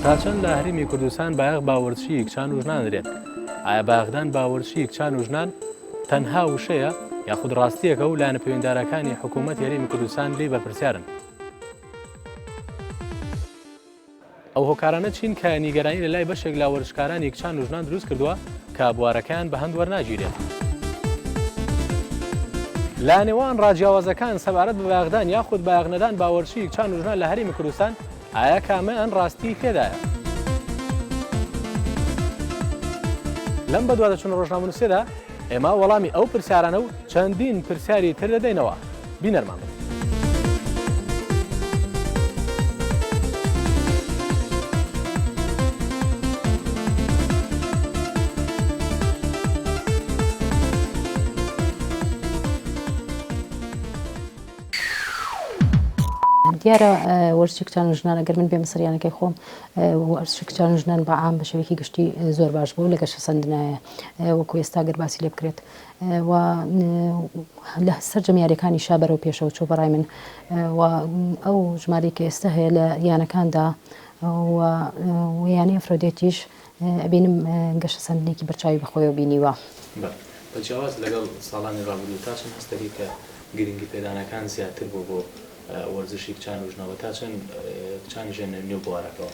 تا چەند لە هەرێمی کوردستان بایەخ باوەرچی کچان و ژنان درێت ئایا باغدان باوەرچی کچان و ژنان تەنها وشەیە یاخود ڕاستیەکە و لایەنە پەیوەندارەکانی حکوومەت هەرێمی کوردستان لی بەرپرسیارن ئەو هۆکارانە چین کە نیگەرانی لە لای بەشێک لە وەرزشکارانی کچان و ژنان دروست کردووە کە بوارەکەیان بەهەند وەرناگیرێت؟ لە نێوان ڕا جیاوازەکان سەبارەت بە بایەخدان یاخود بایەخ نەدان بە وەرزشی کچان و ژنان لە هەرێمی کوردستان، ئایا کامەیان ڕاستیی تێدایە؟ لەم بەدواداچوونە ڕۆژنامەنووسییەدا، ئێمە وەڵامی ئەو پرسیارانە و چەندین پرسیاری تر دەدەینەوە، بینەرمان بن. دیارە وەرزشی کچان و ژنان ئەگەر من بێمە سەریانەکەی خۆم وەرزشی کچان و ژنان بە عام بە شێوەیەکی گشتی زۆر باش بوو لە گەشەسەندنایە وەکو ئێستا گەر باسی لێ بکرێت و لە سەرجەم یاریەکانی شا بەرەو پێشەوە چۆ بەڕای من و ئەو ژمارەی کە ئێستا هەیە لە یانەکاندا ویانەی ئەفرۆدێتیش ئەبینم گەشە سەندنێکی بەرچاوی بەخۆیەوە بینیوە. بە جیاواز لەگەڵ ساڵانی ڕابردوو تا چەند هەست دەکەی کە گرنگی پێدانەکان زیاتر بووە بۆ وەرزشی کچان و ژنەوە تا چەند کچان ژێنە نێو بوارەکەوە؟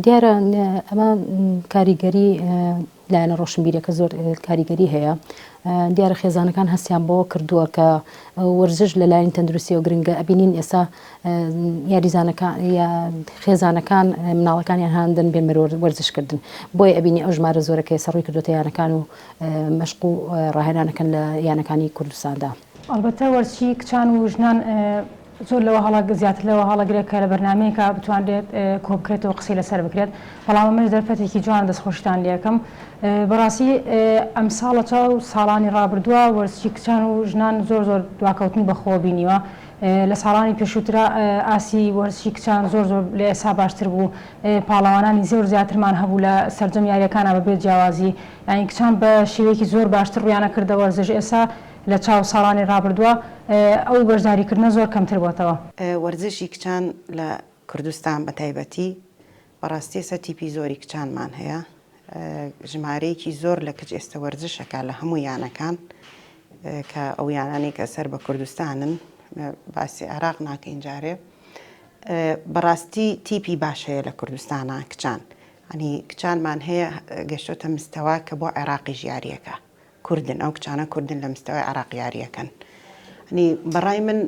دیارە ئەمە کاریگەری لایەنە ڕۆشنبیرەکە زۆر کاریگەری هەیە دیارە خێزانەکان هەستیان بەوە کردووە کە وەرزش لە لایەن تەندروستیەوە گرنگە ئەبینین ئێستا یاریزانەکان خێزانەکان مناڵەکانیان هاندن بێ مرۆر وەرزشکردن بۆی ئەبینی ئەو ژمارە زۆرەکەی سەڕووی کردوتە یانەکان و مەشق و ڕاهێنانەکەن لە یانەکانی کوردستاندا. ئەڵبەتە وەرچی کچان و ژنان زۆر لەوە هەڵە زیاتر لەوە هەڵەگرە کە لە بەرنامەیەکا بتوانرێت کۆبکرێتەوە و قسەی لەسەر بکرێت، بەڵام ئەمەش دەرفەتێکی جوانە دەستخۆشیتان لێکەم. بەڕاستی ئەمساڵ لە چاو ساڵانی ڕابردووە وەرچی کچان و ژنان زۆر زۆر دواکەوتنی بەخۆوە بینیوە. لە ساڵانی پێشووترا ئاستی وەرچی کچان زۆر زۆر لە ئێستا باشتر بوو، پاڵەوانانی زۆر زیاترمان هەبوو لە سەرجەم یارییەکانا بەبێ جیاوازی یانی کچان بە شێوەیەکی زۆر باشتر ڕوویانە کردە وەرزش ئێستا لە چاو ساڵانی ڕابردووە ئەو بەشداریکردنە زۆر کەمتر بۆتەوە. وەرزشی کچان لە کوردستان بە تایبەتی بەڕاستی ئێستا تیپی زۆری کچانمان هەیە ژمارەیەکی زۆر لە کچ ئێستا وەرزشەکە لە هەموو یانەکان کە ئەو یانانی کە سەر بە کوردستانن باسی عێراق ناکەین جارێ بەڕاستی تیپی باش هەیە لە کوردستانە کچان ئەنی کچانمان هەیە گەشتۆتە مستەوە کە بۆ عێراقی ژیاریەکە کوردن ئەو کچانە کوردن لە مستەوای عێراق یاریەکەن ینی بەڕای من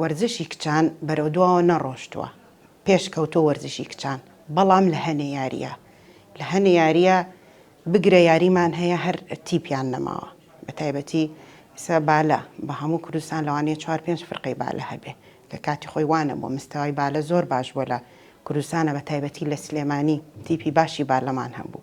وەرزشی کچان بەرەو دواوە نەڕۆشتووە پێش کەوتۆ وەرزشی کچان بەڵام لە هەنێ یاریە لە هەنێ یاریە بگرە یاریمان هەیە هەر تیپیان نەماوە بە تایبەتی سە بالە بە هەموو کوردستان لەوانەیە چوار پێنج فرقەی بالە هەبێ لە کاتی خۆی وانە بۆ مستەوای بالە زۆر باش بۆ لە کوردستانە بە تایبەتی لە سلێمانی تیپی باشی بالەمان هەبوو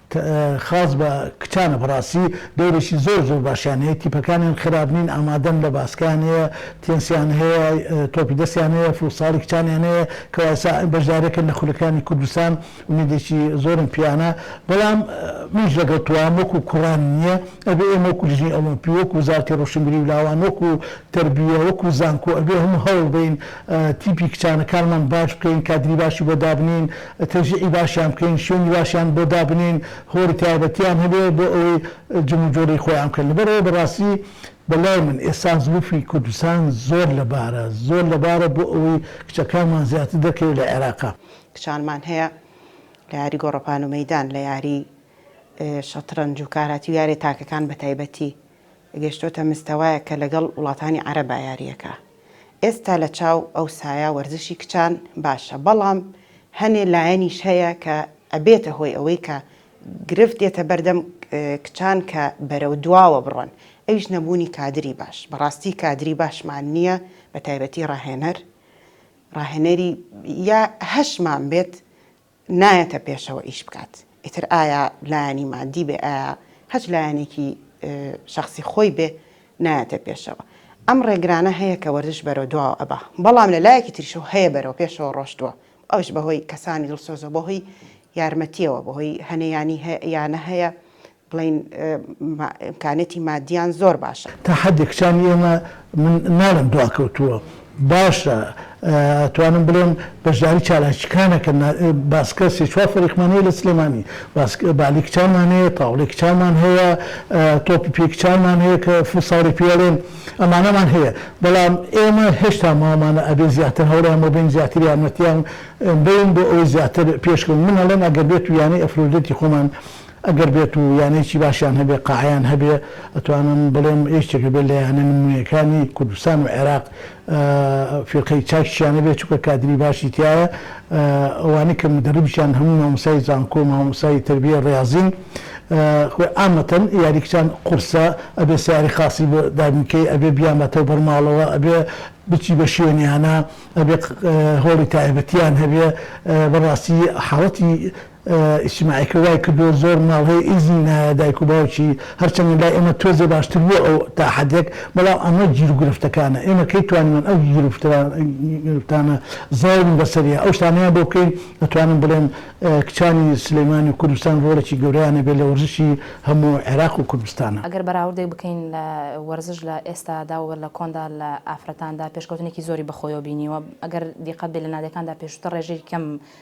خاس بە کچانە بەڕاستی دەورێکی زۆر زۆر باشیان هەیە تیپەکانیان خراپ نین ئامادەن لە باسکەیان هەیە تێنسیان هەیە تۆپی دەستیان هەیە فوتساڵی کچانیان هەیە کەوا ئێستا بەشدارێکن لە خولەکانی کوردستان ئومێدێکی زۆرم پێیانە بەڵام منیش لەگەڵ تۆام وەکو کوڕان نییە ئەبێ ئێمە وەکو لیژنەی ئۆڵۆمپی وەکو وزارەتی ڕۆشنبیری و لاوان وەکو تەربیە وەکو زانکۆ ئەبێ هەموو هەوڵ بەین تیپی کچانەکانمان باش بکەین کادری باشی بۆ دابنێین تەوزیعی باشیان بکەین، شوێنی باشیان بۆ دابنێین، هۆڵی تایبەتیان هەبێت بۆ ئەوەی جموجۆڵی خۆیان بکەن. لەبەرئەوە بەڕاستی بەلای من ئێستا زلوفی کوردستان زۆر لەبارە، زۆر لەبارە بۆ ئەوەی کچەکانمان زیاتر دەرکەوێت لە عێراق. کچانمان هەیە لە یاری گۆڕەپان و مەیدان، لە یاری شەترەنج و کاراتی و یاریە تاکەکان بەتایبەتی، گەشتۆتە مستەوایەک کە لەگەڵ وڵاتانی عەرەبا یاریەکا ئێستا لە چاو ئەو سایە وەرزشی کچان باشە بەڵام هەنێ لایەنیش هەیە کە ئەبێتە هۆی ئەوەی کە گرفت دێتە بەردەم کچان کە بەرەو دواوە بڕۆن ئەویش نەبوونی کادری باش بەڕاستی کادری باشمان نیە بە تایبەتی ڕاهێنەر ڕاهێنەری یا هەشمان بێت نایەتە پێشەوە ئیش بکات ئیتر ئایا لایەنی مادی بێ ئایا هەچ لایەنێکی شەخسی خۆی بێ نایەتە پێشەوە ئەم ڕێگرانە هەیە کە وەرزش بەرەو دواوە ئەبا بەڵام لە لایەکی تریشەوە هەیە بەرەو پێشەوە ڕۆشتووە ئەوش بەهۆی کەسانی دڵسۆزەوە بەهۆی یارمەتیەوە بەهۆی هەنێیانی یانە هەیە بڵێین ئیمکانیەتی مادیان زۆر باشە. تا حەدێک کچانی ئێمە من ناڵێم دواکەوتووە باشە ئەتوانم بڵێم بەشداری چالاکیکان ئەکەن باسکە سێ چوار فەریقمان هەیە لە سلێمانی بالی کچانمان هەیە تاوڵی کچانمان هەیە تۆپی پێی کچانمان هەیە کە فوتساڵی پێ ئەڵێن ئەمانەمان هەیە بەڵام ئێمە هێشتا ماومانە ئەبێ زیاتر هەوڵیان بۆ بەین زیاتر یارمەتیان بەین بۆ ئەوەی زیاتر پێشکەون من ئەڵێم ئەگەر بێتو یانەی ئەفرۆدێتی خۆمان ئەگەر بێت و یانەیەکی باشیان هەبێ، قاعەیان هەبێ، ئەتوانم بڵێم یەکێکە بێت لە یانە نموونەیەکانی کوردستان و عێراق، فیرقەی چاکیشیان هەبێ، چونکە کادری باشی تیایە، ئەوانەی کە مودەرریبیشیان هەموو مامۆستای زانکۆ و مامۆستای تەربییەی ڕیازین، خۆی عامەتەن یاری کچان قورسە، ئەبێ سەیارەی خاسی بۆ دابین کەی، ئەبێ بیانبەتەوە بەر ماڵەوە، ئەبێ بچی بە شوێنیانا، ئەبێ هۆڵی تایبەتیان هەبێ، بەڕاستی حاڵەتی ئیجتیماعیەکە وای کردووە زۆر ماڵ هەیە ئیزنی نایە دایک و باوکی، هەرچەندە لای ئێمە تۆزێ باشتر بووە ئەو تا حەدێک، بەڵام ئەمە گیر و گرفتەکانە، ئێمە کەی توانیمان ئەو گیر و گرفتانە زاڵین بەسەریا ئەو شتانەیان بۆ بکەین، ئەتوانم بڵێم کچانی سلێمانی و کوردستان ڕۆڵێکی گەورەیان هەبێت لە وەرزشی هەموو عێراق و کوردستان. ئەگەر بەراوردێک بکەین لە وەرزش لە ئێستادا و لە کۆندا لە ئافرەتاندا پێشکەوتنێکی زۆری بەخۆیەوە بینیوە، ئەگەر دیقەت بێت لە نادێکاندا پێشووتر ڕێژەی کەم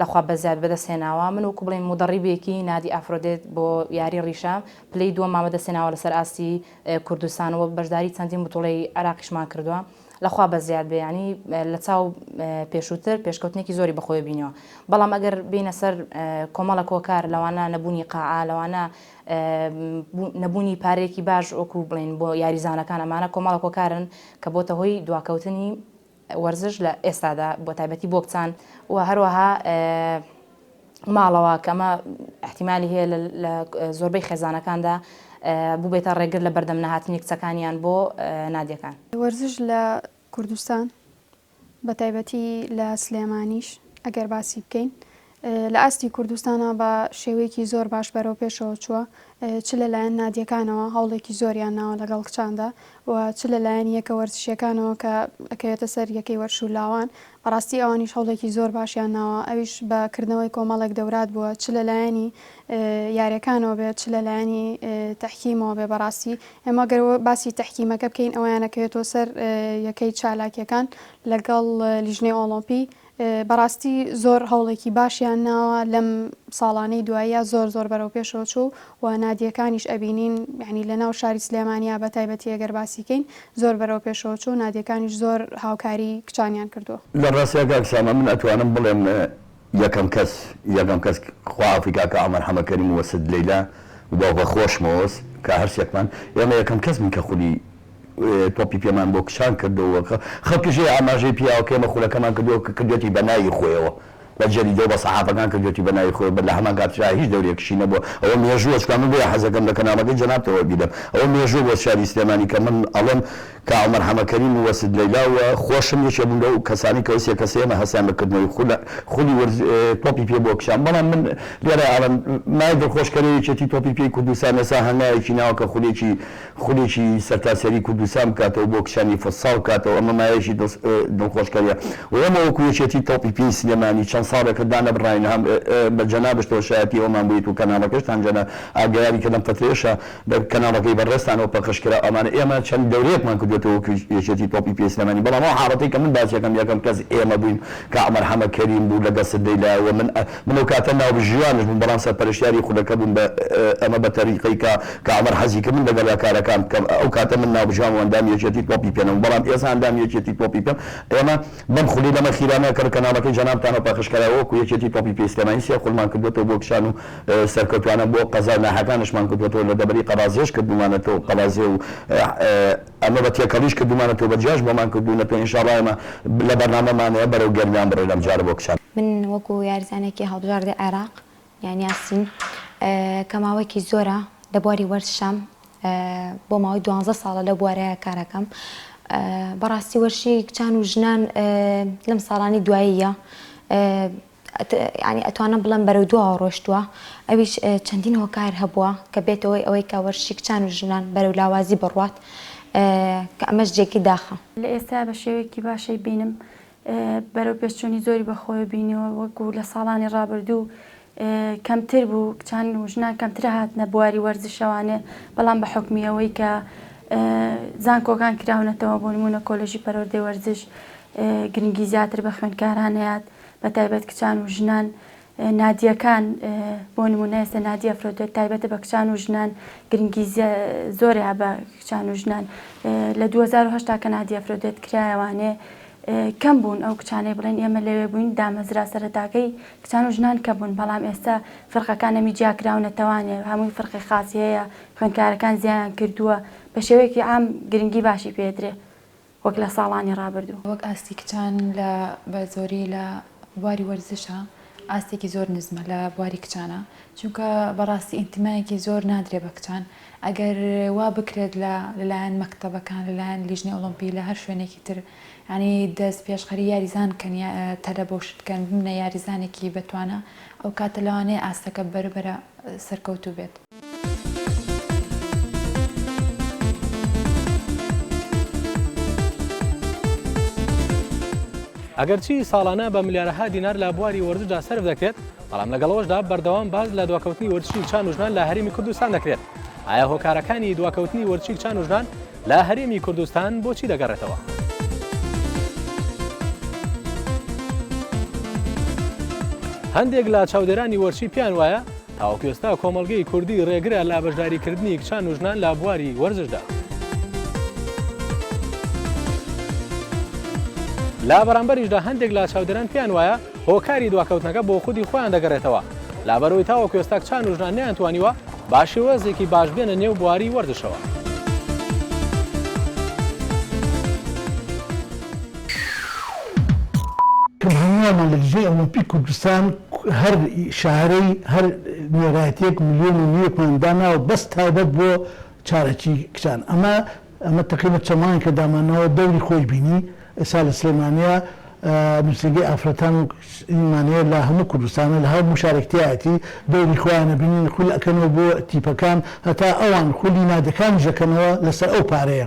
لە خوا بەزیاد بەدەست هێناوە من وەکو بڵێین مودەڕیبێکی نادی ئافرۆدێت بۆ یاری ڕیشە پلەی دووەممان بەدەست هێناوە لەسەر ئاستی کوردستان و بەشداری چەندین بتوڵەی عێراقیشمان کردووە لە خوا بەزیاد بێ یانی لە چاو پێشووتر پێشکەوتنێکی زۆری بەخۆی بینەوە بەڵام ئەگەر بینە سەر کۆمەڵە کۆکار لەوانە نەبوونی قاعە لەوانە نەبوونی پارێکی باش وەکو بڵین بۆ یاریزانەکان ئەمانە کۆمەڵە کۆکارن کە بۆتە هۆی دواکەوتنی وەرزش لە ئێستادا بە تایبەتی بۆ کچان و هەروەها ماڵەوە کە ئەمە ئەحتیمالی هەیە لە زۆربەی خێزانەکاندا بووبێتە ڕێگر لە بەردەم نەهاتنی کچەکانیان بۆ نادیەکان. وەرزش لە کوردستان بە تایبەتی لە سلێمانیش ئەگەر باسی بکەین لە ئاستی کوردستانا بە شێوەیەکی زۆر باش بەرەو پێشەوە چووە، چ لە لایەن نادیەکانەوە هەوڵێکی زۆریان ناوە لەگەڵ کچاندا و چ لە لایەن یەکە وەرزشیەکانەوە کە ئەکەوێتە سەر یەکەی وەرشو لاوان بەڕاستی ئەوانیش هەوڵێکی زۆر باشیان ناوە ئەویش بە کردنەوەی کۆمەڵێک دەورات بووە چ لە لایەنی یاریەکانەوە بێت چ لە لایەنی تەحکیمەوە بێ بەڕاستی ئێمە گەر باسی تەحکیمەکە بکەین ئەویان ئەکەوێتەوە سەر یەکەی چالاکیەکان لەگەڵ لیژنەی ئۆڵۆمپی بەڕاستی زۆر هەوڵێکی باشیان ناوە لەم ساڵانەی دواییە زۆر زۆر بەرەو پێشەوە چوو و نادیەکانیش ئەبینین یانی لە ناو شاری سلێمانیا بە تایبەتی ئەگەر باسی کەین زۆر بەرەو پێشەوە چوو نادیەکانیش زۆر هاوکاری کچانیان کردووە. لە ڕاستیا کاک سامان من ئەتوانم بڵێم یەکەم کەس یەکەم کەس خوافی کاکە عومەر حەمە کەریم و ست لەیلا و بە خۆشمەوەس کە هەرسێکمان ئێمە یەکەم کەس بین کە خولی تۆپی پێمان بۆ کچان کردووە، خەڵکیشی ئاماژەی پیاوەکەی ئێمە خولەکەمان کردووە کە کردوویەتی بە ناوی خۆیەوە، بە جەریدە و بە سەحافەکان کردوویەتی بە ناوی خۆی، لە هەمان کاتیشدا هیچ دەورێکیشی نەبووە، ئەوە مێژووە، چونکە من بۆیە حەزدەکەم لە کەناڵەکەی جەنابتەوە بیدەم، ئەوە مێژووە بۆ شاری سلێمانی کە من ئەڵێم کاک عومەر حەمەکەریم و وەسید لەیلا و خۆشم یەکێک بوون لەو کەسانەی کە ئەو سێ کەسەی ئێمە هەستیان بە کردنەوەی خولی ورز تۆپی پێ بۆ کچان، بەڵام من لێرە ئەڵێم مایە دڵخۆشکەرەوەی یەکێتی تۆپی پێی کوردستان ئێستا هەنگاوێکی ناوە کە خولێکی خولێکی سەرتاسەری کوردستان بکاتەوە بۆ کچانی فوتساڵ بکاتەوە ئەمە مایەشی دڵخۆشکەریە و ئێمە وەکو یەکێتی تۆپی پێی سلێمانی چەند ساڵێکە دانەبڕاین هەم بە جەنابشتەوە شایەتی ئەومان بوویت و کەناڵەکەشتان جەناب ئاگایاری کە لەم فەترەیەشا کەناڵەکەی بەڕێزتانەوە پەخش کرا ئەمانە ئێمە چەند دەورەیەکمان کردۆتەوە وەکو یەکێتی تۆپی پێی سلێمانی بەڵام ئەو حاڵەتەی کە من باسیەکەم یەکەم کەس ئێمە بووین کە عومەر حەمە کەریم بوو لەگەڵ سدەی لایەوە من من ئەو کاتە ناوبژیوانش بووم بەڵام سەرپەرشتیاری خولەکە بووم بە ئەمە بە تەریقەی کە کا عومەر حەزی کرد من لەگەڵیا کارەکان بکەم ئەو کاتە من ناوبژیوان و ئەندامی یەکێتی تۆپی پێ نەبووم بەڵام ئێسا ئەندامی یەکێتی تۆپی پێم ئێمە بەم خولی لەمە خیرانە کە کەناڵەکەی جەنابتانەوە پەخش کەرا وەکو یەکێتی تۆپی پێی سلێمانی سێ خولمان کردووەتەوە بۆ کچان و سەرکەوتوانە بۆ قەزا ناحەکانشمان کردووەتەوە لە دەڤەری قەرازێش کردوومانەتەوە قەڵازێ و ئەمە بە تێکەڵیش کردومانە تۆ بە جیاش بۆمان کردونەتەوە ان شاءاللە ئێمە لە بەرنامەمان هەیە بەرەو گەرمیان بڕۆین ئەم جارە بۆ کچان. من وەکو یارزانێکی هەڵبژاردەی عێراق یان یاسین کە ماوەیەکی زۆرە لە بواری وەرشام بۆ ماوەی دوانزە ساڵە لەو بوارەیە کارەکەم بەڕاستی وەرشی کچان و ژنان لەم ساڵانی دواییە یانی ئەتوانم بڵێم بەرەو دواوە ڕۆشتووە، ئەویش چەندین هۆکار هەبووە کە بێتە هۆی ئەوەی کە وەرشی کچان و ژنان بەرەو لاوازی بڕوات کە ئەمەش جێگەی داخە. لە ئێستایا بە شێوەیەکی باشی بینم بەرەو پێشچوونی زۆری بە خۆوێ بینیوە وەکوو لە ساڵانی ڕابردوو کەمتر بوو کچان و ژنان کەمترە هاتنە بواری وەرزشەوانێ بەڵام بە حوکمی ئەوەی کە زانکۆکان کراونەتەوە بۆ نموونە کۆلێژی پەروەردەی وەرزش گرنگی زیاتر بە خوێندکاران نەیات بەتایبەت کچان و ژنان نادیەکان بۆ نمونە ئێستا نادی ئەفرۆدێت تایبەتە بە کچان و ژنان گرنگی زۆریا بە کچان و ژنان لە 2010 تا کە نادی ئەفرۆدێت کرایەوانێ کەم بوون ئەو کچانەی بڵێن ئێمە لەوێ بووین دامەزرا سەرەتاکەی کچان و ژنان کە بوون بەڵام ئێستا فرقەکانەمی جیاکراونەتەوانێ هەمووی فرقی خاصی هەیە خوێنکارەکان زیایان کردووە بە شێوەیەکی ئام گرنگی باشی پێدرێ وەک لە ساڵانی ڕابردوو. وەک ئاستی کچان لە بە زۆری لە بواری وەرزشا ئاستێکی زۆر نزمە لە بواری کچانا چونکە بەڕاستی ئینتمایەکی زۆر نادرێ بە کچان ئەگەر وا بکرێت لە لەلایەن مەکتەبەکان لەلایەن لیژنەی ئۆڵۆمپی لە هەر شوێنێکی تر یانی دەست پێشخەری یاریزان کەن یا تەلە بەو شت کەن بمنە یاریزانێکی بەتوانا ئەو کاتە لەوانەیە ئاستەکە بەرە بەرە سەرکەوتوو بێت. ئەگەرچی ساڵانە بە ملیارەها دینار لە بواری وەرزشدا سەرف دەکرێت، بەڵام لەگەڵ ئەوەشدا بەردەوام باس لە دواکەوتنی وەرزشی چان و ژنان لە هەرێمی کوردستان دەکرێت. ئایا هۆکارەکانی دواکەوتنی وەرزشی چان و ژنان لە هەرێمی کوردستان بۆ چی دەگەڕێتەوە؟ هەندێک لە چاودێرانی وەرزشی پێیان وایە، تاوەکو ئێستا کۆمەڵگەی کوردی ڕێگرە لە بەشداریکردنی کچان و ژنان لە بواری وەرزشدا. لە بەرامبەریشدا هەندێک لە چاودێران پێیان وایە هۆکاری دواکەوتنەکە بۆ خودی خۆیان دەگەڕێتەوە، لەبەرئەوەی تاوەکو ئێستا کچان و ژنان نەیانتوانیوە بە شێوازێکی باش بێنە نێو بواری وەرزشەوە. کە هەمووانمان لە دژی ئۆلۆمپی کوردستان هەر شارەی هەر نوێنەرایەتیەک ملیۆن و نیوەکمان داناوە بەس تایبەت بۆ چارەکی کچان ئەمە ئەمە تەقریبەن چەند مانگێکە دامانناوە دەوری خۆی بینی ئێسا لە سلێمانیە نوسینگەی ئافرەتان و ئیمانەیە لە هەموو کوردستانە لە هەموو شارێکتیایەتی دەوری خۆیانە بینین خول ئەکەنەوە بۆ تیپەکان هەتا ئەوان خولی نادەکانیش ئەکەنەوە لەسەر ئەو پارەیە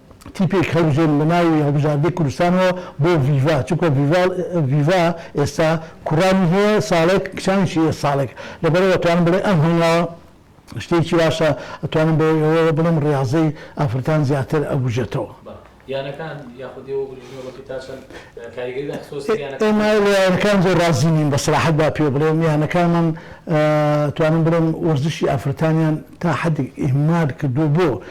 تیپێک هەڵبژێرن لە ناوی هەڵبژاردەی کوردستانەوە بۆ ڤیڤا چونکە ڤیڤا ئێستا کوڕانی هەیە ساڵێک کچانیشی هەیە ساڵێک لەبەرئەوە ئەتوانم بڵێ ئەم هەنگاوە شتێکی باشە ئەتوانم بۆ ئێوە بڵێم ڕیاضەی ئافرەتان زیاتر ئەبوژێتەوە. ئێمە لە یانەکان زۆر ڕازی نین بە سەراحەت با پێو بڵێم یانەکانمان ئەتوانم بڵێم وەرزشی ئافرەتانیان تا حەدێک ئیهمال کردووە بۆ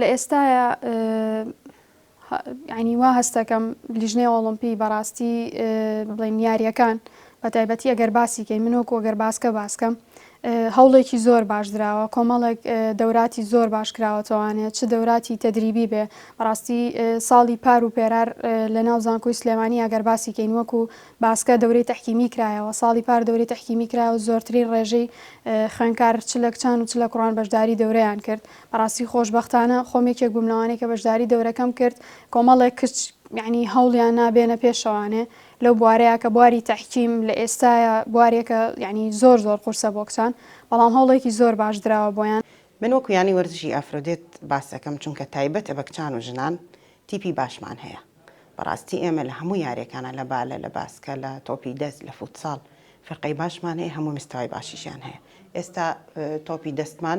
لە ئێستایا یانی وا هەست دەکەم لیژنەی ئۆڵۆمپی بەڕاستی بڵێن یاریەکان بە تایبەتی ئەگەر باسی کەی من وەکو ئەگەر باسکە باسکەم هەوڵێکی زۆر باش دراوە کۆمەڵێک دەوراتی زۆر باش کراوەتەوانێت چ دەوراتی تەدریبی بێ بەڕاستی ساڵی پار و پێرار لە ناو زانکۆی سلێمانی ئەگەر باسی کەین وەکو باسکە دەورەی تحکیمی کرایەوە ساڵی پار دەوری تحکیمی کرایەوە زۆرترین ڕێژەی خوێنکار چ لە کچان و چ لە کوڕان بەشداری دەورەیان کرد بەڕاستی خۆشبەختانە خۆم یەکێک بووم لەوانەی کە بەشداری دەورەکەم کرد کۆمەڵێک کچ یعنی هەوڵیان نا بێنە پێشەوانێ لەو بوارەیە کە بواری تحکیم لە ئێستاە بوارێکە یعنی زۆر زۆر قورسە بۆ کچان بەڵام هەوڵێکی زۆر باش دراوە بۆیان. من وەکو یانی وەرزشی ئافرۆدێت باس دەکەم چونکە تایبەتە بە کچان و ژنان تیپی باشمان هەیە بەڕاستی ئێمە لە هەموو یارێکانە لە بالە لە باسکە لە تۆپی دەست لە فوتساڵ فرقەی باشمان هەیە هەموو مستەوای باشیشیان هەیە ئێستا تۆپی دەستمان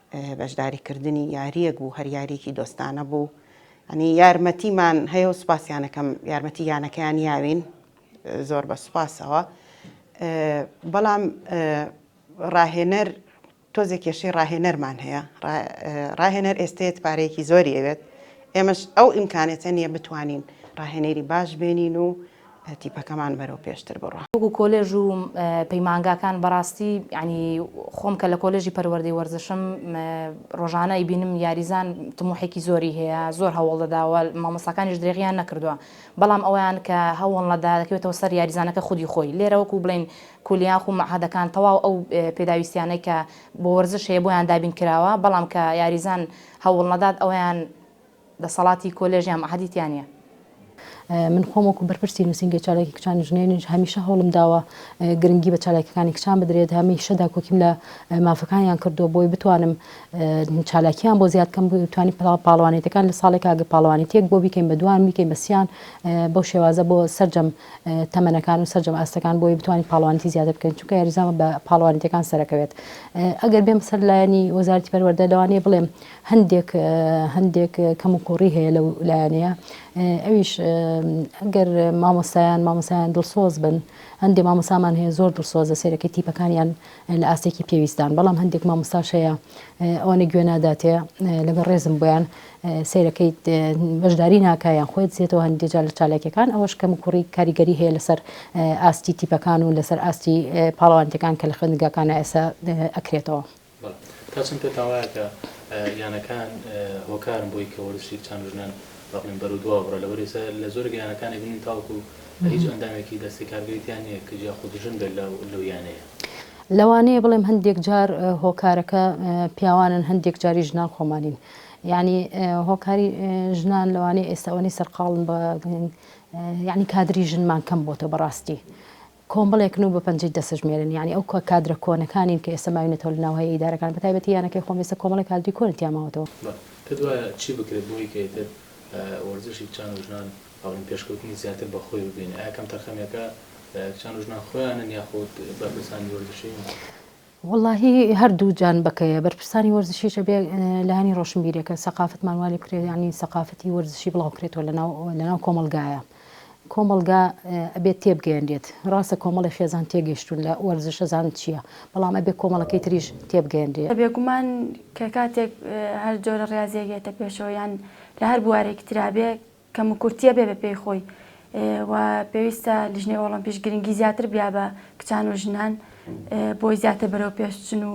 بەشداری کردنی یاریەک بوو هەر یاریەکی دۆستانە بوو ئەنی یارمەتیمان هەیە و سوپاسیانەکەم یارمەتی یانەکەیان یاوین زۆر بە سوپاسەوە بەڵام ڕاهێنەر تۆزێ کێشەی ڕاهێنەرمان هەیە ڕاهێنەر ئێستێت پارەیەکی زۆری ئەوێت ئێمەش ئەو ئیمکانێتە نییە بتوانین ڕاهێنەری باش بێنین و تیپەکەمان بەرەو پێشتر بڕا. وەکو کۆلێژ و پەیمانگاکان بەڕاستی یانی خۆم کە لە کۆلێژی پەروەردەی وەرزشم ڕۆژانە ئەیبینم یاریزان تموحێکی زۆری هەیە زۆر هەوڵ دەداوە مامۆستاکانیش درێغیان نەکردوە بەڵام ئەوەیان کە هەوڵنە دەکەوێتەوە سەر یاریزانەکە خودی خۆی لێرە وەکو بڵێین کولیاخ و مەعهەدەکان تەواو ئەو پێداویستیانەی کە بۆ وەرزش هەیە بۆیان دابین کراوە بەڵام کە یاریزان هەوڵنەدات ئەوەیان دەسەڵاتی کۆلێژ یان مەعهەدی تیا نییە. من خۆم وەکو بەرپرسی نووسینگەی چالاکی کچانی ژنێنیش هەمیشە هەوڵم داوە گرنگی بە چالاکیەکانی کچان بدرێت هەمیشە داکۆکیم لە مافەکانیان کردووە بۆی بتوانم چالاکیان بۆ زیاد کەم توانی پاڵوانێتەکان لە ساڵێک ئاگە پاڵوانی تێک بۆ بیکەین بە دوان بیکەین بەسییان بەو شێوازە بۆ سرجەم تەمەنەکان و سرجەم ئاستەکان بۆی بتوانین پاڵوانتی زیاتر بکەین چونکە یاریزان بە پاڵوانیتەکان سەرەکەوێت ئەگەر بێم سەر لایەنی وەزارتی پەروەردە لەوانەیە بڵێم هەندێک هەندێک کەموکوڕی هەیە لەو لایەنەیە ئەویش ئەگەر مامۆستایان مامۆسایان دڵسۆز بن هەندێک مامۆسامان هەیە زۆر دڵسۆزە سێرەکەی تیپەکانیان لە ئاستێکی پێویستان بەڵام هەندێک مامۆستاش هەیە ئەوانە گوێ ناداتێ لەگە ڕێزم بۆیان سیرەکەی بەشداری ناکایان خۆی زیێتەوە هەندێجار لە چالاکیەکان ئەوەش کەم کوڕی کاریگەری هەیە لەسەر ئاستی تیپەکان و لەسەر ئاستی پاڵەوانتەکان کە لە خوێندگاکانە ئێسا ئەکرێتەوە. بەڵێ تا چەند پێتان وایە کە یانەکان هۆکارن بۆی کە وەرزشی کچان و ژنان وا بڵێین بەرەو دوا بڕە لەبەر ئێستا لە زۆرێک لە یانەکان ئەبینین تاوەکو هیچ ئەندامێکی دەستەی کارگێری تیا نییە کچ یاخود ژن بێت لەو یانەیە؟ لەوانەیە بڵێم هەندێک جار هۆکارەکە پیاوانن هەندێک جاریش ژنان خۆمانین یانی هۆکاری ژنان لەوانەیە ئێستا ئەوەنەی سەرقاڵن بە یانی کادری ژنمان کەم بۆتە بەڕاستی کۆمەڵێکن و بە پەنجەی دەسەژمێرن یانی ئەو کادرە کۆنەکانین کە ئێستا ماوینەتەوە لە ناو هەیئە ئیدارەکان بە تایبەتی یانەکەی خۆم ئێستا کۆمەڵێک کادری کۆنی تیا ماوەتەوە. بە پێت وایە چی بکرێت بۆ ئەوەی کە ئیتر وەرزشی کچان و ژنان بەڵێن پێشکەوتنی زیاتر بە خۆی ببینێ ئایا کەمتەرخەمیەکە کچان و ژنان خۆیانن یاخود بەرپرسانی وەرزشین؟ وەڵاهی هەر دوو جان بەکەیە بەرپرسانی وەرزشیش ئەبێ لایەنی ڕۆشنبیرەکە سەقافەتمان وا لێ بکرێت یانی سەقافەتی وەرزشی بڵاو بکرێتەوە لەناو لەناو کۆمەڵگایە کۆمەڵگا ئەبێت تێبگەیەنرێت ڕاستە کۆمەڵی خێزان تێگەشتون لە وەرزش ئەزان چییە بەڵام ئەبێ کۆمەڵەکەی تریش تێبگەیەنرێ. بێگومان کە کاتێک هەر جۆرە ڕیازیەک یەتە پێشەوە یان لە هەر بوارێکی ترا بێ کەم و کورتیە بێ بە پێی خۆی و پێویستە لیژنەی ئۆڵۆمپیش گرنگی زیاتر بیا بە کچان و ژنان بۆی زیاتر بەرەو پێشچن و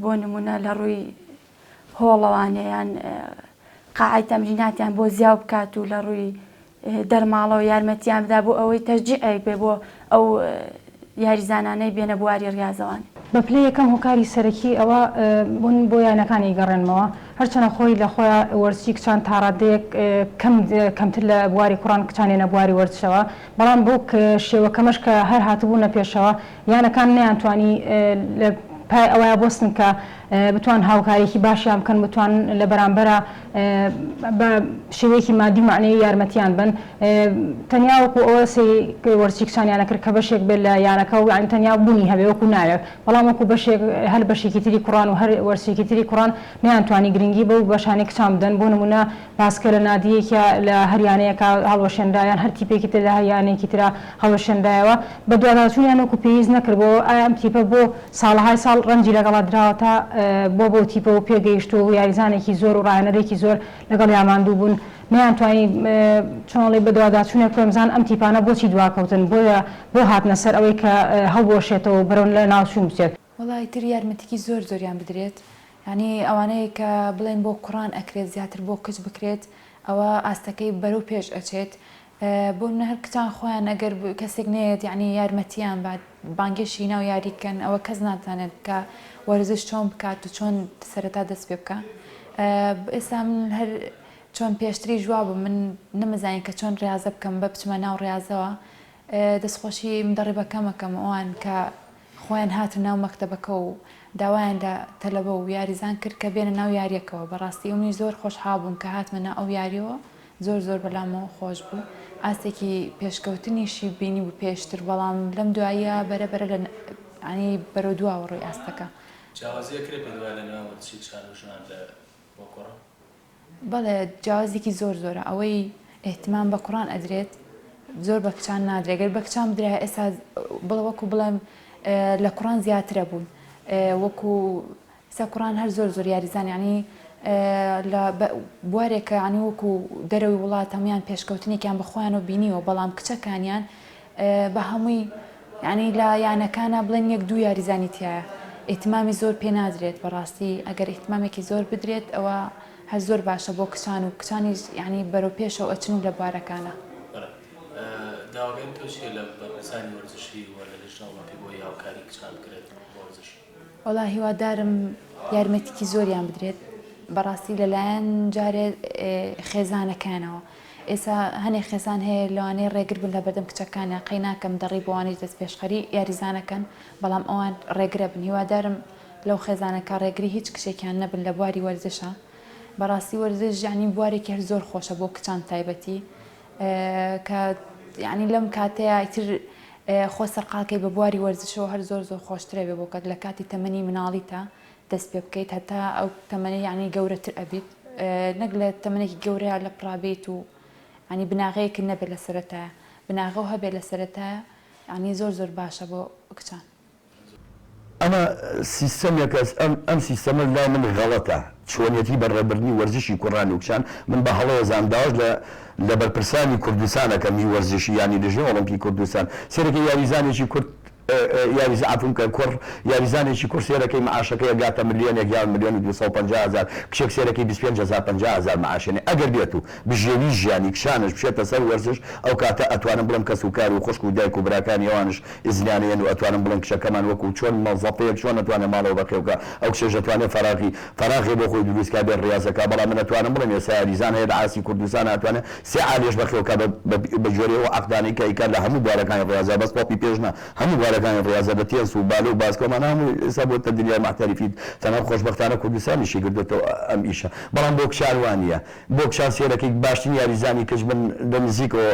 بۆ نمونە لە ڕووی هۆڵەوانەیان قاعی تەمریناتیان بۆ زیاو بکات و لە ڕووی دەرماڵەوە یارمەتیان بدا بۆ ئەوەی تەشجیعێک بێ بۆ ئەو یاریزانانەی بێنە بواری ریازەوان. بە پلەی یەکەم هۆکاری سەرەکی ئەوە بوون بۆ یانەکان ئیگەڕێنمەوە، هەرچەنە خۆی لە خۆیا وەرزشی کچان تاڕادەیەک کەم کەمتر لە بواری کوڕان کچان یەنە بواری وەرزشەوە بەڵام بەو شێوە کەمەش کە هەر هاتبوونە پێشەوە یانەکان نەیانتوانی لە پای ئەوەیا بۆستن کە بتوان هاوکاریەکی باشیان بکەن بتوان لە بەرامبەرا بە شێوەیەکی مادی و مەعنەوی یارمەتیان بەن تەنیا وەکو ئەوە سەیری وەرزشی کچانیان نەکرد کە بەشێک بێت لە یانەکە و یانی تەنیا بوونی هەبێ وەکو ناوێک بەڵام وەکو بەشێک هەر بەشێکی تری کوڕان و هەر وەرزشێکی تری کوڕان نەیانتوانی گرنگی بەو بەشانەی کچان بدەن بۆ نموونە پاسکە لە نادیەکیا لە هەر یانەیەکا هەڵوەشێنرا یان هەر تیپێکی تر لە هەر یانەیەکی ترا هەڵوەشێنرایەوە بەدواداچوونیان وەکو پێویست نەکرد بۆ ئەم تیپە بۆ ساڵەهای ساڵ ڕەنجی لەگەڵا دراوەتە بۆ بەو تیپە و پێگەیشتووە و یاریزانێکی زۆر و ڕاهێنەرێکی زۆر لەگەڵیا ماندوو بوون نەیانتوانی چۆن ئەڵێی بەدواداچوونێک بکەن و بزانن ئەم تیپانە بۆچی دواکەوتن بۆیە بۆ هاتنە سەر ئەوەی کە هەڵبوەشێتەوە و بەرەو لەناوچوون بچێت. وەڵا ئیتر یارمەتیی زۆر زۆریان بدرێت یەعنی ئەوانەی کە بڵێن بۆ کوڕان ئەکرێت زیاتر بۆ کچ بکرێت ئەوە ئاستەکەی بەرەو پێش ئەچێت بۆ منە هەر کچان خۆیان ئەگەر کەسێک نەیەت یەعنی یارمەتیان بات بانگێشتی ناو یاری کەن ئەوە کەس ناتانێت کە وەرزش چۆن بکات و چۆن سەرەتا دەست پێ بکە ئێستا من هەر چۆن پێشتری جواب بوو من نمزانین کە چۆن ڕاستە بکەم بە بچمە ناو ڕاستەوە دەستخۆشی دەڕێ بەکەمەکەم ئەوان کە خۆیان هاتن ناو مەکتەبەکە و داوایان لە تەلەبە و یاریزان کرد کە بێنە ناو یاریەکەوە بەڕاستی ئەونیش زۆر خۆشحاڵ بووم کە هاتمە ناو ئەو یاریەوە زۆر زۆر بەلامەوە خۆش بوو ئاستێکی پێشکەوتنیشی بینیبوو پێشتر بەڵام لەم دواییە بەرە بەرە لە یانی بەرەو دواوە ڕووی ئاستەکە جیاوازیەک هەیە پێت وایە لە نێوان وەرزشی چان و ژنان لە وەک کوڕە؟ بەڵێ جیاوازێکی زۆر زۆرە ئەوەی ئیهتمام بە کوڕان ئەدرێت زۆر بە کچان نادرێت گەر بە کچان بدرایە ئێستا بڵێ وەکو بڵێم لە کوڕان زیاترە بوون وەکو سە کوڕان هەر زۆر زۆر یاریزان یعنی لە بوارێکە عنی وەکو دەرەوەی وڵات هەموان پێشکەوتنێکیان بەخۆیان و بینیوە بەڵام کچەکانیان بەهەمووی یانی لە یانەکانا بڵێن یەک دوو یاریزانی تیایە ئیتمامی زۆر پێ نادرێت بەڕاستی ئەگەر ئیتمامێکی زۆر بدرێت ئەوە هەر زۆر باشە بۆ کچان و کچانیش یانی بەرەو پێشەوە ئەچن و لە بوارەکانا داواکاری تۆ چیە لە بەرپرسانی وەرزشی و لە لجنە ئۆڵۆمپی بۆی هاوکاری کچان بکرێت بۆ وەرزش؟ وەڵا هیوادارم یارمەتیکی زۆریان بدرێت بەڕاستی لەلایەن جارێ خێزانەکانەوە ئێسا هەنێ خێزان هەیە لەوانەیە ڕێگر بن لە بەردەم کچەکانە قەی ناکەم دەڕی بۆوانەی دەست پێشخەری یاریزانەکەن بەڵام ئەوان ڕێگرە بن هیوادارم لەو خێزانەکە ڕێگری هیچ کچێکیان نەبن لە بواری وەرزشە بەڕاستی وەرزش یعنی بوارێکی هەر زۆر خۆشە بۆ کچان تایبەتی کە یانی لەم کاتەیە ئیتر خۆ سەرقاڵکەی بە بواری وەرزشەوە هەر زۆر زۆر خۆشترە بێ بۆ کەت لە کاتی تەمەنی مناڵیتا دەست پێ بکەیت هەتا ئەو تەمەنی یعنی گەورەتر ئەبیت نەک لە تەمەنێکی گەورەیە لە پڕابیت و ینی بناغەیەکی نەبێت لە سەرەتایە بناغە و هەبێت لە سەرەتایە ینی زۆر زۆر باشە بۆ کچان ئەمە سیستەمێکە، ئەم سیستەمەش لای من غەڵەتە، چۆنیەتی بەڕێبردنی وەرزشی کوڕانی و کچان من بە هەڵە ئەزانم، داواش لە لە بەرپرسانی کوردستان ئەکەم هی وەرزشی یانەی لژنەی ئۆڵۆمپی کوردستان سەیرەکەی یاریزانێکی کورد یاریزان عەفوم بکە کوڕ یاریزانێکی کوڕ سەیرەکەی معاشەکەی ئەگاتە ملیۆنێک یان ملیۆن و دوو سەد و پەنجا هەزار کچێک سەیرەکەی بیست و پێنج هەزار پەنجا هەزار معاش ئەنێ ئەگەر بێت و بژێوی ژیانی کچانش بچێتە سەر وەرزش ئەو کاتە ئەتوانم بڵێم کەس و کار و خوشک و دایک و براکانی ئەوانش ئیزنیانە یەن و ئەتوانن بڵێن کچەکەمان وەکوو چۆن مەزەپەیەک چۆن ئەتوانێ ماڵەوە بەخێو کا، ئەو کچەش ئەتوانێ فەراغی فەراغێ بۆ خۆی درووست کا بێ ڕیازە کا، بەڵام من ئەتوانم بڵێم ئێستا یاریزان هەیە لە ئاستی کوردستانا ئەتوانێ سێ عالیەش بەخێو کا بە بە جۆرێ ئەو عەقدانەی کە ئەیکا لە هەموو بوارەکانی ڕیازا بەس تۆپی پێش نا هەموو بوارەکانی ڕیازە لە تێنس و بالە و باسکەوە مانا هەموو ئێستا بۆتە دنیای مەحتەرفی تەنها خۆشبەختانە کوردستانیشی کردۆتەوە ئەم ئیشە بەڵام بۆ کچان وا نیە بۆ کچان سێرەکیک باشترین یاریزانی کچ من لە نزیکەوە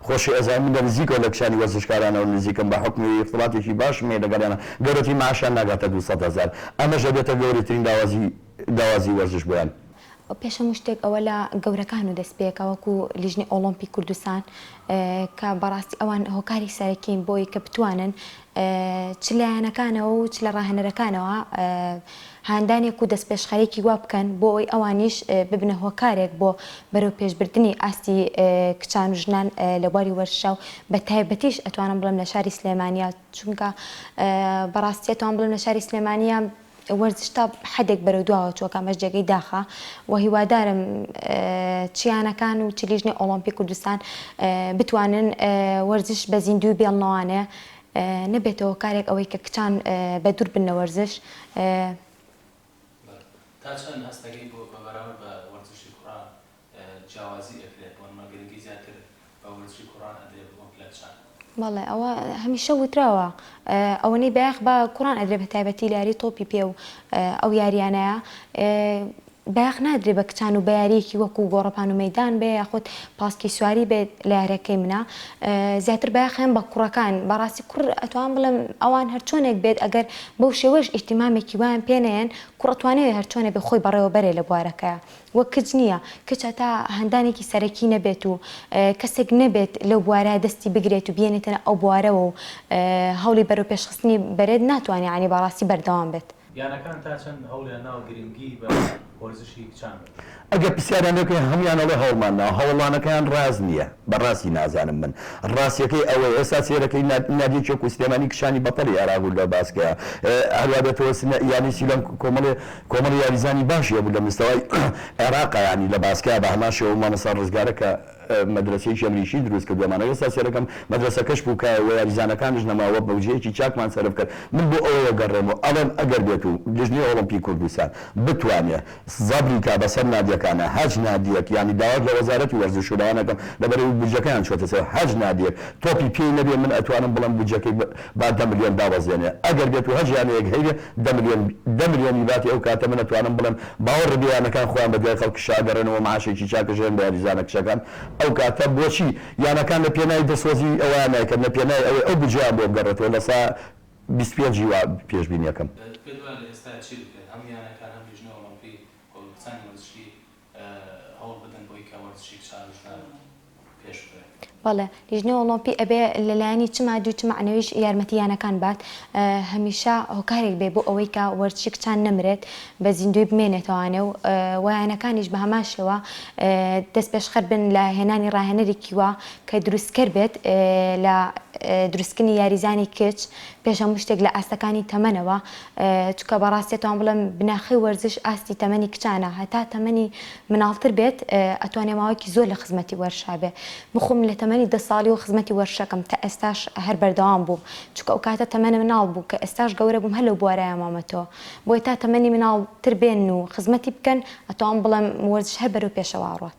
خۆشی ئەزانم من لە نزیکەوە لە کچانی وەرزشکارانەوە نزیکم بە حوکمی ئیختڵاتێکی باشم هەیە لەگەڵیانا گەورەترین معاشیان ناگاتە دوو سەد هەزار ئەمەش ئەبێتە گەورەترین لاوازی داوازی وەرزش بۆیان. پێش هەموو شتێک ئەوە لە گەورەکان و دەست پێکە وەکو لیژنەی ئۆڵۆمپی کوردستان کە بەڕاستی ئەوان هۆکاری سەرەکین بۆی کە بتوانن چ لایەنەکانەوە و چ لە ڕاهێنەرەکانەوە هاندانێک و دەستپێشخەرێکی وا بکەن بۆ ئەوەی ئەوانیش ببنە هۆکارێک بۆ بەرەوپێشبردنی ئاستی کچان و ژنان لە بواری وەرشا و بە تایبەتیش ئەتوانم بڵێم لە شاری سلێمانیە چونکە بەڕاستی ئەتوانم بڵێم لە شاری سلێمانیە وەرزش تا حەدێک بەرەو دواوە چووە کە ئەمەش جێگەی داخە و هیوادارم چیانەکان و چ لیژنەی ئۆڵۆمپی کوردستان بتوانن وەرزش بە زیندووی بێڵنەوانێ نەبێتەوە کارێک ئەوەی کە کچان بە دوور بن لە وەرزش تا چەند هەستەکەی بۆ بە بەراورد بە وەرزشی کوڕان جیاوازی ئەکرێت بۆنمە گرنگی زیاتر بە وەرزشی کوڕان ئەدرێ وەک لە چان. بەڵێ ئەوە هەمیشە وتراوە ئەوەنەی بایەخ بە کوڕان ئەدرێ بە تایبەتی لە یاری تۆپی پێ و ئەو یاریانەیا بایەخ نادرێ بە کچان و بە یاریەکی وەکو گۆڕەپان و مەدان بێ یاخود پاسکی سواری بێت لە یارەکەی منە زیاتر بایەخیان بە کوڕەکان بەڕاستی کوڕ ئەتوان بڵێم ئەوان هەرچۆنێک بێت ئەگەر بەو شێوەش ئیحتیمامێکی وایان پێنەیەن کوڕەتوانێت هەرچۆنێ بێ خۆی بەڕێوە بەرێ لە بوارەکەیە وەک کچ نییە، کچ هەتا هەندانێکی سەرەکی نەبێت و کەسێک نەبێت لەو بوارە دەستی بگرێت و بیێنێتە ئەو بوارەوە و هەوڵی بەرەوپێشخستنی بەرێت ناتوانێت یانی بەڕاستی بەردەوام بێت. یانەکان تا چەند هەوڵیان ناوە گرنگی بە وەرزشی کچان بدەن؟ ئەگەر پرسیاریان لێ بکەین هەموویان ئەڵێ هەوڵمان ناوە، هەوڵانەکەیان ڕاست نییە، بە ڕاستی نازانم من، ڕاستیەکەی ئەوەیە ئێستا سەیرەکەی نادیە چۆک و سلێمانی کچانی بەتەڵی عێراق و لە باسکەیە هەروا دەتەوە یانی سیلان کۆمەڵێ. کۆمەڵی یاریزانی باشی هەبوو لە مستەوای عێراقا یانی لە باسکە بە هەمان شێوە مامۆستا ڕزگارە کە مەدرەسەیەکی ئەمریکی دروست کردووەمان ئەوێ ستا سێرەکەم مەدرەسەکەش پووکایە وە یاریزانەکانیش نەماوە بەوجەیەکی چاکمان سەرف کرد من بۆ ئەوەوە گەڕێم و ئەڵێم ئەگەر بێت و لیژنەی ئۆڵۆمپی کوردستان بتوانێ زەبری کا بەسەر نادیەکانا هەرچ نادیەک یانی داواش لە وەزارەتی وەرزش و لەوان ئەکەم لەبەرەوی بودجەکەیان چۆتە سەر هەرچ نادیەک تۆپی پێی نەبێ من ئەتوانم بڵێم بودجەکەی با دە ملیۆن دابەزێنێ ئەگەر بێت و هەرچ یانەیەک هەیبێ دە ملیۆن دە ملیۆنی باتی ئەو کاتە من ئەتوانم بڵێم باوە ڕبیانەکان خۆیان بە دوای خەڵکی شا گەڕێن و معاشێکی چاکە ژێن بە یاریزانە کچەکان ئەو کاتە بۆچی یانەکان لە پێناوی دەسوەزی ئەوەیان نایکەن لە پێناوی ئەوەی ئەو بجیان بۆ بگەڕێتەوە لە سا بیست پێنج ی وا پێشبینیەکەم. دەتکرد وایە لە ئێستا چی بکرێت هەم یانەکان هەم لیژنە ئۆڵۆمپی و هەڵگورتانی وەرزشی هەوڵ بدەن بۆی کە وەرزشێک چاویشدار پێش ببەن. بەڵێ لیژنەی ئۆڵۆمپی ئەبێ لە لایەنی چ مادی و چ مەعنەویش یارمەتی یانەکان بات هەمیشە هۆکارێک بێ بۆ ئەوەی کە وەرزشی کچان نەمرێت بە زیندووی بمێنێتەوانێ و وە یانەکانیش بە هەمان شێوە دەست پێشخەر بن لە هێنانی ڕاهێنەرێکی وا کە دروستکەر بێت لە دروستکردنی یاریزانی کچ پێش هەموو شتێک لە ئاستەکانی تەمەنەوە چونکە بەڕاستی ئەتوان بڵێم بناخەی وەرزش ئاستی تەمەنی کچانە هەتا تەمەنی مناڵتر بێت ئەتوانێ ماوەیەکی زۆر لە خزمەتی وەرشا بێ من خۆم لە تەمەنی دە ساڵی و خزمەتی وەرشەکەم تا ئێستاش هەر بەردەوام بووم چونکە ئەو کاتە تەمەنە مناڵ بوو کە ئێستاش گەورە بووم هەر لەو بوارەیا مامەتەوە بۆیە تا تەمەنی مناڵتر بێن و خزمەتی بکەن ئەتوان بڵێم وەرزش هەر بەرەو پێشەوا ڕۆات.